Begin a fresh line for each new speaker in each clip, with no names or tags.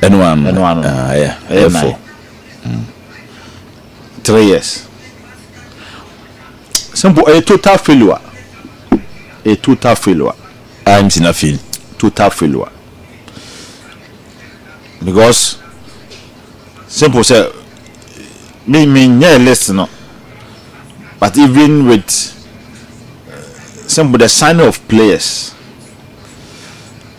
Ɛno ano. Ɛno ano. Ah, ɛyɛ.
Ɛyɛ fo.
Mm.
Three years. Simple. Ɛyɛ total failure. Ɛyɛ total failure. I'm in a
fail. Total failure.
Because simple sɛ me me nyɛ list no but even with uh, simple the signing of players.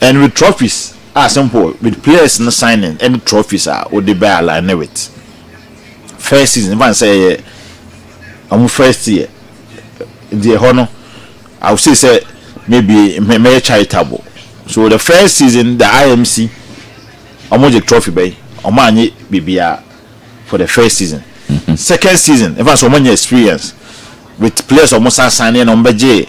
and with trophies a simple with players no signing ɛne trophies a wode bɛ align with first season ɛfa sɛ ɛyɛ ɔmo first year deɛ ɛhɔ no I would say sɛ maybe mɛyɛ charitable so the first season the IMC ɔmo gye trophy bɛyi ɔmo anye biribiara for the first season second season ɛfa sɛ ɔmo anya experience with players ɔmo sa sign ɛna ɔmo bɛgye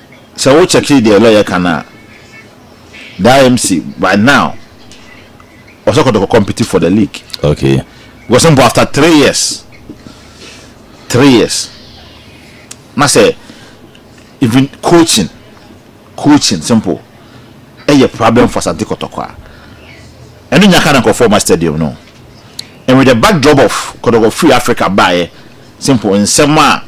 Sɛ wo kyɛke deɛ lɔyɛ ka no a, the IMC right now ɔsɛ kɔtɔkɔ compete for the league. Okay.
Because mpo after
three years, three years, na sɛ even coaching, coaching simple, ɛyɛ problem for Asante kɔtɔkɔ a, ɛno nya ka na nkurɔfoɔ ma stadium no. And with the backdrop of kɔtɔkɔ free Africa baeɛ, simple nsɛm a.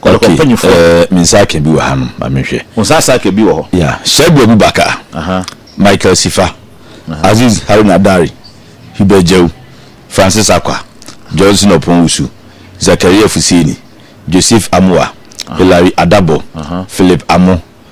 Kɔtɔkɔ mpanyinfoɔ. Okay, ɛɛ me nsa aka bi wɔ ha nom, ma me nhwɛ. Wo nsa asa aka bi wɔ hɔ.
Yeah, Shaibu Abubakar,
uh -huh. Michael Sifa, uh -huh. Aziz Haruna Dari, Hubert Jau, Francis Akwa, Johnson Opon-Usu, Zakaria Fuseni, Joseph Amoah, uh -huh. Hilary Adabo, uh -huh. Philip Amo,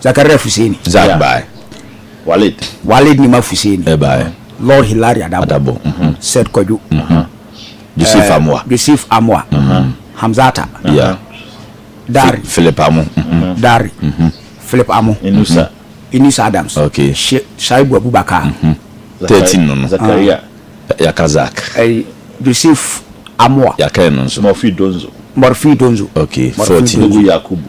Zakaria Fuseni. Zak bae.
Walid.
Walid Nima Fuseni. Ɛbae.
Lord Hilary
Adabo. Adabo. Mhm. Seth Kwadwo. Mhm.
Joseph eh, Amoa. Joseph Amoa.
Mhm. Hamzata. Yeah.
Dari.
Philip Amo. Mhm.
Dari. Mhm.
Philip Amo. Inusa. Inusa mhm. Adams. Okay.
Shaibu Abubakar.
Mhm. 13
no no. Zakaria.
Ah. Yaka Zak.
Eh,
Joseph Amoa. Yaka no nso. Morphy
Donzo. Morphy
Donzo. Okay. 14.
Yakubu.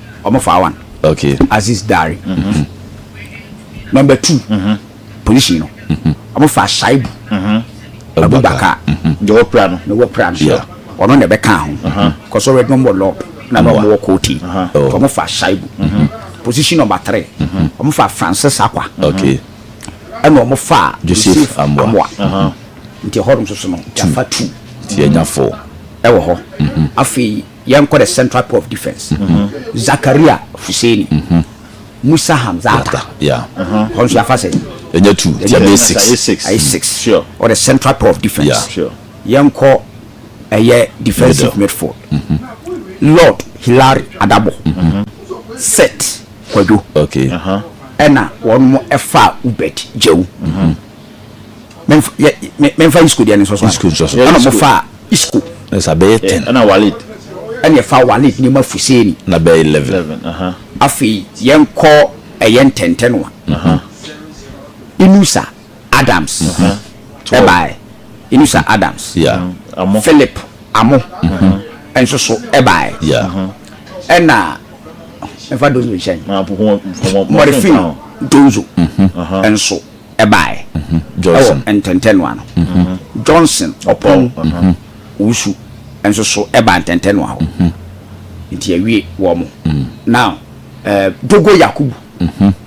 ɔmo faa one. Okay. Aziz
Dare.
Number two, polisi no, ɔmo faa Shaibu Abubakar. Deɛ ɔwɔ pra
no. Na ɔwɔ pra no. Yeah.
Ɔno na ɛbɛ kaa ho. Kɔsɔ ɔrɛ dɔm wɔ lɔp. Na na ɔmo wɔ kooti. Oh. Ɔmo faa Shaibu. Position number three, ɔmo faa Francis Akwa. Okay.
Ɛna ɔmo
faa Joseph Joseph Amoa. Amoa.
Nti ɛhɔ
nom soso no, yɛafa two Nti yɛnya four.
ɛwɔ hɔ.
Afei Yɛnkɔ the central pole of defence, Zakaria Fuseni, Musa Hamzata, hɔ
nso yɛafa sɛn?
Ɛnyɛ two, nti ɛbɛyɛ six.
Ɛyɛ six. Ɛyɛ six.
Sure. Or the
central pole of
defence. Sure. Yɛnkɔ ɛyɛ defensive midfield, Lord Hilary Adabo, Seth Kwadwo,
ɛna
wɔn mo ɛfa Ubed Jewu. mɛmfa yɛ mɛ mɛmfa isco deɛ ne nsɔsɔ isco nsɔsɔ ɛna mo fa isco ɛsa bɛyɛ eh, ten
ɛna walid
ɛna ɛfa
walid ne ma fuseni na bɛyɛ eleven
eleven aha afei
yɛn kɔ ɛyɛ ntɛntɛnoa aha inusa adams ɛbaɛ mhm. inusa adams yeah amo
philip
amo mhm. ɛnso so ɛbaɛ yeah
ɛna
ɛfa donzo nhyɛn mɔrefin donzo ɛnso. ɛbaeɛ wɔ
Ntɛntɛnoa no.
Johnson ɔpɔn wusu nso so baa Ntɛntɛnoa hɔ. Nti awie wɔn. Now eh, Dogo Yakubu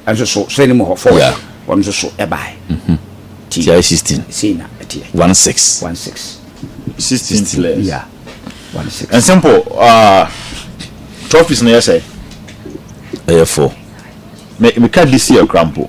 nso so sɛne mu hɔ fɔ Yeah. wɔn nso so
baeɛ.
Ti TI
sixteen sei na ɛteɛ.
one six. One six.
Sixteen
players. Yeah. One six.
And simple, uh, trophies no yɛ sɛ Ɛyɛ
four.
me meka this year koraa mpo.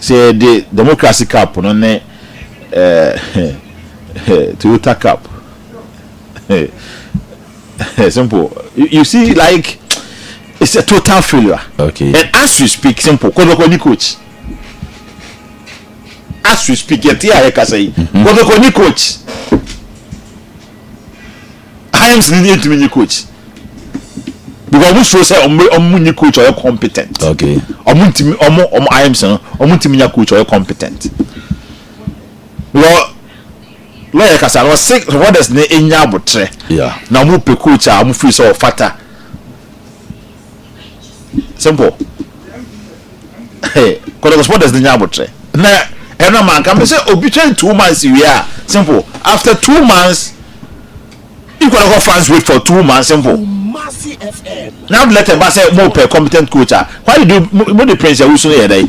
Sɛ yɛde Democracy Cup no ne Toyota Cup, Simple, you see like it's a total failure. Okay. And as we
speak,
Simple, Kodoko ni coach. As we speak, yɛte a yɛkasa yi, Kodoko ni coach. Himes ni yɛ ntumi nye coach because ɔmo suro sɛ ɔmo ɔmo nye coach ɔyɛ competent okay ɔmo
ntumi ɔmo ɔmo
Himes no ɔmo ntumi nya coach ɔyɛ competent wɔ lɔyɛ kasa no ɔse supporters ne enya abotrɛ na ɔmo pɛ
coach a
ɔmo firi sɛ ɔfata. simple kɔtɔkɔ supporters ni nya abotrɛ na ɛna ma nka mi sɛ obi twɛn two months wie a simple after two months ikɔtɔkɔ fans wait for two months simple na abdulate ba sɛ mo pɛ competent coach a why did you mo de prince awusu no yɛ dɛ.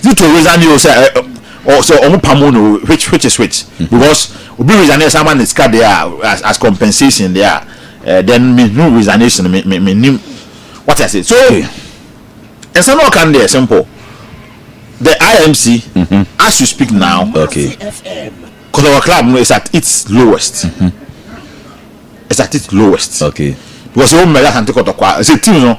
Is it to resign you sɛ ɛ ɔ sɛ ɔmo pamo no which which is which because obi resign yɛ san ma ne sika deɛ a as as compensation deɛ a ɛ then me hu resignation me me me nim wate ase so nsɛm na ɔka no deɛ simple the IMC as you speak now Okay.
kɔtɔkɔ
club no is at its lowest is at its lowest Okay. because
o mɛlɛ asante
kɔtɔkɔ a ɛsɛ team no.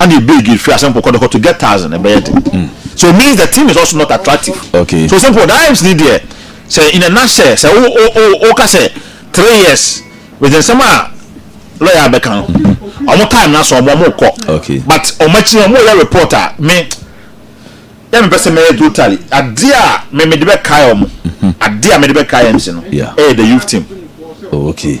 and e big e free asemple kɔdɔkɔ to get thousand ɛbɛyɛ den hmm. so it means the thing is also not attractive okay so simple that
aims ni deɛ
sɛ in a nutshell sɛ o o o o ka sɛ three years with nsɛm a lɔya abɛka no ɔmo time na so ɔmo ɔmo kɔ but ɔmo akyi
ɔmo
yɛ report a me yɛ mi pɛ sɛ mɛyɛ totally adeɛ a mɛ mɛ de bɛ kae ɔmo adeɛ a mɛ de bɛ kae mc no ɛyɛ the youth team. Oh, okay.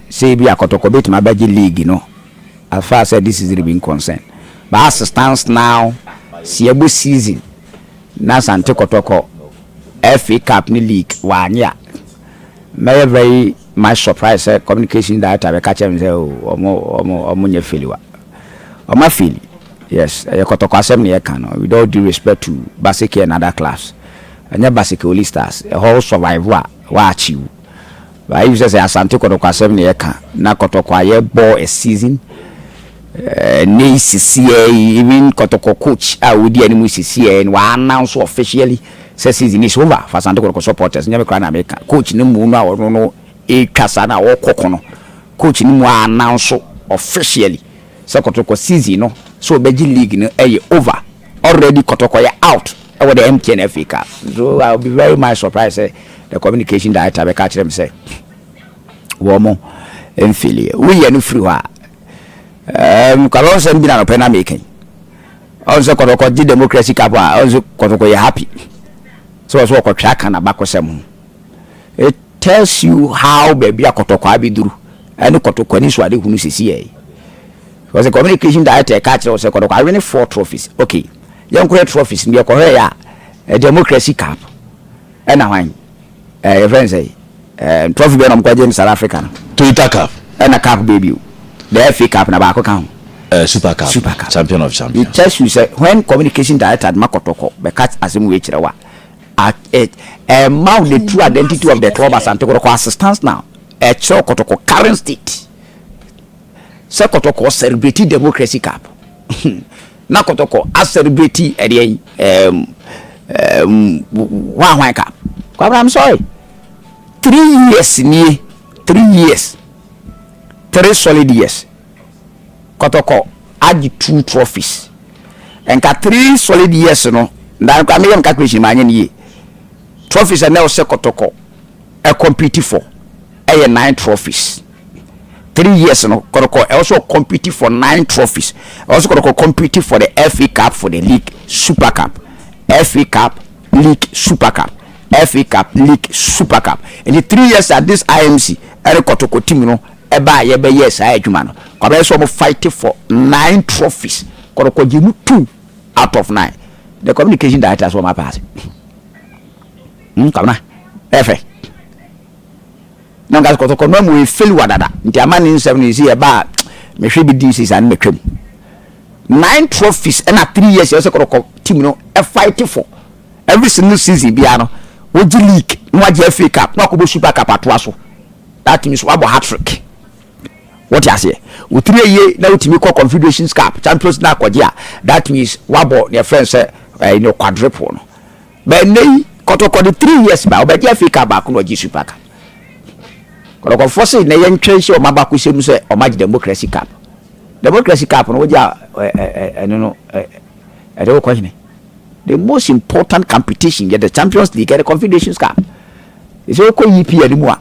Sɛ ebia kɔtɔkɔ betumi abɛgye league no afra sɛ this is Ribin concern but as stands now sɛ yɛbɔ season na Asante Kɔtɔkɔ FA cup ne league wanye a mɛyɛ very much surprised sɛ communications director bɛka kyerɛ me sɛ oh wɔn nyɛ failure. Wɔn afeli yes ɛyɛ kɔtɔkɔ asɛm na yɛka no with all due respect to Baseke and other clubs ɛnyɛ Baseke only stars ɛhɔ wo survive a woachieve But if sɛ sɛ Asante kɔtɔkɔasɛm na yɛka na kɔtɔkɔ a yɛbɔ a season ɛnɛ yi sisiɛ yi even kɔtɔkɔ coach a odi anim sisiɛ yi no wa announce officially sɛ season is over for Asante kɔtɔkɔ supporters nyɛ me koraa na meka coach no mu no a ɔno no ɛtwa saa na ɔkɔ ko no coach no mu a announce officially sɛ kɔtɔkɔ season no sɛ ɔbɛgye league no ɛyɛ over already kɔtɔkɔ yɛ out ɛwɔ the MTN FA cup so I will be very much surprised sɛ the communication director bɛka akyerɛ me sɛ wɔn mfili woyɛ no firi hɔ a ɛɛm kaba nsɛm bi na nɔpɛ na meka yi ɔn sɛ kɔtɔkɔ gye democracy cup a ɔn sɛ kɔtɔkɔ yɛ happy sɛ ɔsɛ ɔkɔtwe aka na bakɔsɛm ho It tells you how baabi a kɔtɔkɔ abɛduru ɛne kɔtɔkɔ anisoadehunu sisi yɛ. Because the communication director ɛka kyerɛ wo sɛ kɔtɔkɔ awene four trophies. Okay, yɛnkɔhwɛ trophies no yɛkɔhwɛ yɛ a democracy cup ɛna hwan ɛɛ yɛfrɛ no sɛ ɛɛ trophy bɛn na wɔn kɔgye no South Africa no. Toyota cup.
Ɛna cup bɛɛ bio.
The FA cup na baako ka ho. Uh, super cup. Super cup.
Champion of champions. It tells you sɛ when
communication director ma kɔtɔkɔ bɛka asɛm wei kyerɛ wa. At it, and mao the true identity of the club Asante Kotoko as it stands now. Ɛkyerɛw Kotoko current state sɛ Kotoko celebrate democracy cup na Kotoko acelebrate ɛdeɛ yi um, um, hwanhwan cup. Kwabra, I'm sorry. Three years nie, three years, three solid years. kɔtɔkɔ agye two trophies nka three solid years no na nka meyɛ me calculation ma anyɛ no yie trophies ɛnɛ ɔsɛ kɔtɔkɔ ɛ compete for ɛyɛ nine trophies three years no kɔtɔkɔ ɛ ɔsɛ compete for nine trophies ɛ ɔsɛ kɔtɔkɔ compete for the FA Cup for the league super cup FA Cup league super cup FA Cup league super cup ɛnti three years at this IMC ɛne kɔtɔkɔ team no Ɛba a yɛbɛyɛɛ saa adwuma no, kwabena sɛ wɔn fighte for nine trophies, Kɔtɔkɔ gyee mu two out of nine. The communication director sɛ wɔn apaase. Hmm, kwabena, ɛyɛ fɛ. Na nka Kɔtɔkɔ no amu efeli wa dada, nti ama ne nsɛm no yɛ si ɛba a mehwɛ bi di sisa no mɛtwa mu. Nine trophies ɛna three years ɛsɛ Kɔtɔkɔ team no ɛfighte for. Every single season biara no wogye league na wagye FA cup na wakɔbɔ super cup atoa so. That means wabɔ hat trick. Wote aseɛ? Wotiri ayie na wotumi kɔ confederations cup champions na akɔgye a that means wabɔ deɛ ɛfrɛ no sɛ ɛyi no quadruple no. Bɛn nnɛ yi kɔtɔkɔ de three years ba ɔbɛgye FA cup baako na ɔgye super cup. Kɔtɔkɔfoɔ se na yɛntwɛn hyɛ wɔn abakɔsɛm sɛ wɔn agye democracy cup. Democracy cup no wogye a ɛno no Yɛde wo kɔ hene. The most important competition yɛ the Champions League and the Confederations Cup. Sɛ wokɔ EPL no mu a,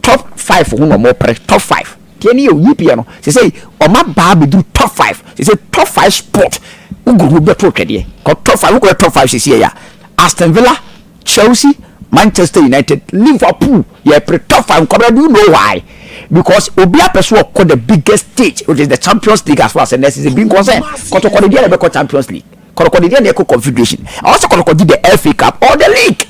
top five ho na ɔmo pere top five. Deɛ ne yɛ o EPL no sɛ sɛ ɔmo abaa bɛduru top five sɛ sɛ top five sport wogoro ho bɛto twɛdeɛ kɔ top five wokɔyɛ top five sɛ sɛ yɛ a Aston Villa Chelsea, Manchester United, Liverpool yɛ pre top five nkɔmina do you know why because obia pɛ so ɔkɔ the biggest stage which is the champions league as far as nurse is being concerned kɔtɔkɔde deɛ na ɛbɛkɔ champions league kɔtɔkɔde deɛ na ɛkɔ confederation ɛwɔ sɛ kɔtɔkɔde the FA cup or the league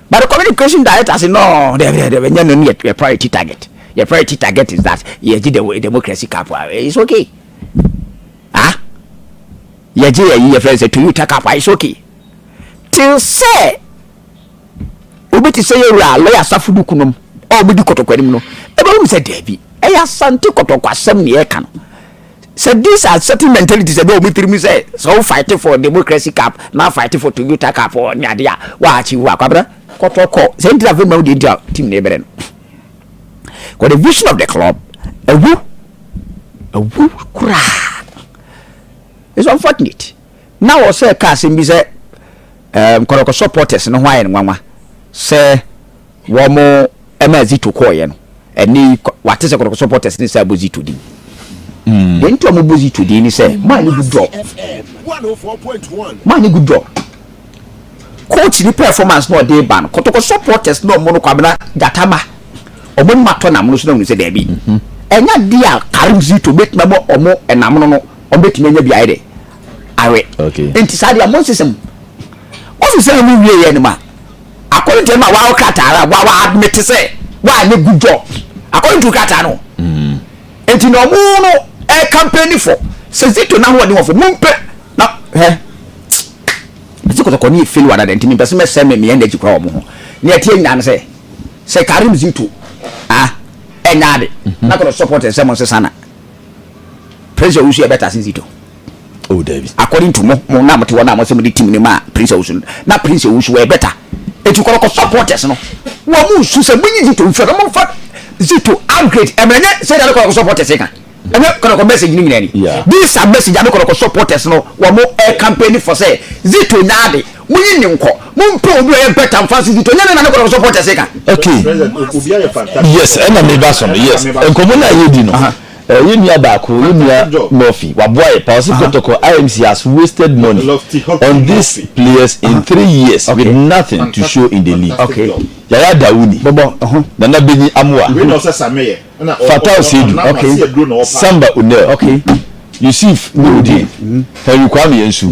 but the communication director say no dɛbi dɛbi dɛbi ɛnyɛ no ne yɛ priority target yɛ priority target is that yɛgye the democracy cup ah, it's okay ah yɛgye yɛ yi yɛ fɛ sɛ Toyota cup ah, it's okay. Te sɛ obi te sɛ yɛn wura a lɔya asafo no kunom a wɔdi kɔtɔkɔ anim no, ɛbɛhum sɛ daabi. Ɛyɛ asante kɔtɔkɔ asɛm na yɛka no. Sɛ these are certain mentalities ɛbɛ wɔn tirim sɛ sɛ wo fight for democracy cup na fight for Toyota cup ne ade a wa achieve wa kwabra kɔtɔkɔ sɛ ntina fɛ ma wo deɛ nti a team na ɛbɛrɛ no. Because the vision of the club awu awu koraa. It's unfortunate. na wɔsɛ ka asɛm bi sɛ Nkoroka supporters no ho ayɛ nwanwa sɛ wɔn ɛma Zito kɔɔyɛ no. Ɛnɛ yi wate sɛ Nkoroka supporters ne sɛ abɔ Zito din. Mm. Deɛ nti a wɔbɔ Zito din ne sɛ maa ne good job. Maa ne good job. Coach ne performance na ɔde ba no. Kotoko supporters na wɔn no kwabena gyatama. Wɔn anim atɔ nam no so na wɔn sɛ daabi. Mm-hmm. Ɛnya de a Karim Zito bɛtumi abɔ wɔn nam no no. wɔbɛtumi anya beaeɛ de awe nti saa
deɛ monsesɛ mu
monsesɛ mu wie yɛ no ma according to ma wɔawo krataa a wɔawa admit sɛ wɔanyɛ good job according to krataa no mm. nti na ɔmo no ɛyɛ campaign fo sɛ zito na ahoɔden wɔfo mompɛ na hɛ ɛsɛ kɔtɔkɔ ne yɛ fail wɔ adada nti mempɛ sɛ mɛsɛ me meyɛ energy kora wɔ mo ho ne ɛteɛ nyinaa no sɛ sɛ karim zito a ɛnyɛ ade mhm. na kɔtɔ support ɛsɛ mo nsesa na Prince Owusu yɛ better since Ito. Oh David.
According to mo, mo na
mo te hɔ na mo sɛ mo de team ne ma Prince Owusu. Na Prince Owusu wɔ better. Eti kɔrɔ kɔ supporters no. Wɔ mo nsu sɛ mo nyi Zito nfiri na mo nfa Zito upgrade. Ɛmɛ nyɛ sɛ ɛna kɔrɔ kɔ supporters ka. Ɛna kɔrɔ kɔ message no nyina ni. These are message ɛna kɔrɔ kɔ supporters no wɔ mo air campaign for sɛ Zito nyaade. Munyi no nkɔ. Mompɛ obi a ɔyɛ better mfa nsusu to. Ɛnyɛ dɛn na ne kɔtɔkɔsɔ protest ka. Okay
yes ɛna meba so no yes nkɔmmɔ no a yɛredi no eh, yɛ nua baako yɛ nua Murphy waboa yɛ pa ɔse kɔtɔkɔ IMC has wasted money on these players in three years with nothing to show in the league Yaya
Dawuni
Nana Benyi Amoa Fatau Seidu Samba Onel
Yusuf
Nurudeen Henry Kwame Ansu.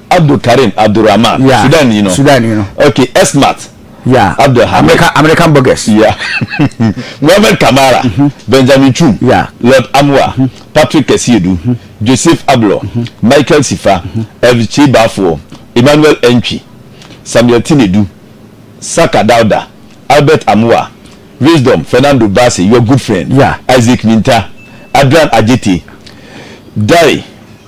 Abdul
Karim Abdul Rahman, yeah. Sudan ni no. Sudan ni no. Okay, Esmat. Yeah. Abdul Hamid. American, American bogus.
Yeah.
Mohamed Kamara, mm -hmm. Benjamin Chum, yeah. Lord Amwa, mm -hmm. Patrick Kesiedu, mm -hmm. Joseph Ablo, mm -hmm. Michael Sifa, mm -hmm. Elvis Chibafuo, Emmanuel Entwi, Samuel Tinedu, Saka Dauda, Albert Amua, Wisdom, Fernando Bassey, your good friend, yeah. Isaac Minta, Adrian Ajiti, Dai,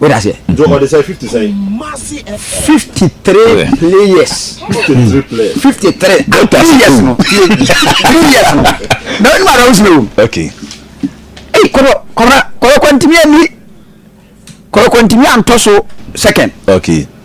wode
aseɛ ɔde sɛ
50 sɛn 53
players 53 players no 3 years no na wonim ara wosime wom okay
ei
kɔrɔ kɔrɔ kɔrɔ kɔntimi ani kɔrɔ kɔntimi antɔ so second okay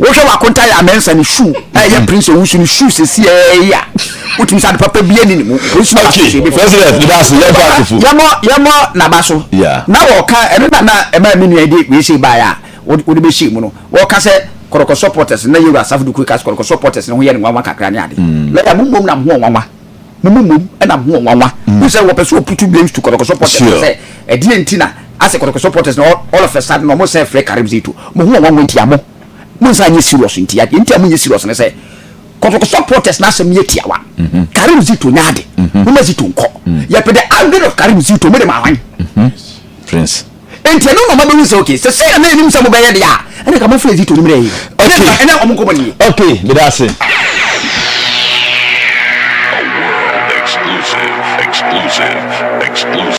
wohwɛ w'akonta yɛ amensa ne shoe a ɛyɛ prince owusu ne shoe sɛsi ɛyɛ a wotumi sɛ ade papa bi ani ne mu polisi baako sɛ
ebi fɔ yɛmɔ yɛmɔ naba
so na wɔka
ɛno na
na ɛma mi nua de wei sɛ baayɛ a wode bɛhyɛ mu no wɔka sɛ kɔrɔkɔ supporters na yɛwura asafo dukure ka sɛ kɔrɔkɔ supporters no ho yɛ ne nwanwa kakra ne ade lɛda mo mmom na mo ho ɔnwanwa mo mu mmom na mo ho wɔ nwanwa. Wohu sɛ wɔpɛ sɛ wɔputu blames to Kɔtɔkɔsɔ Porters no sɛ ɛdeɛn nti na asɛ Kɔtɔkɔsɔ Porters no all of a sudden na wɔsɛ frɛ Karim Zeito. Mo ho wɔ nwanwa nti a mo monsan nyɛ serious nti a. Deɛ nti a monyɛ serious ne sɛ Kɔtɔkɔsɔ Porters no asɛm yɛ tiawa. Karim Zeito nyɛ ade. Momma Zeito nkɔ. Yɛpɛ the update of Karim Zeito. Mode maa hwan? Prince.
Enti ɛno na
ɔmabehu sɛ okay sɛ sɛnea na yɛnim sɛ mobɛyɛ deɛ a ɛna ka mofrɛ Zito no mmerɛ yi. Ɛnɛ na ɛnɛ wɔn nkɔmmɔ nie. Okay, meda ase.
A world exclusive, exclusive, exclusive.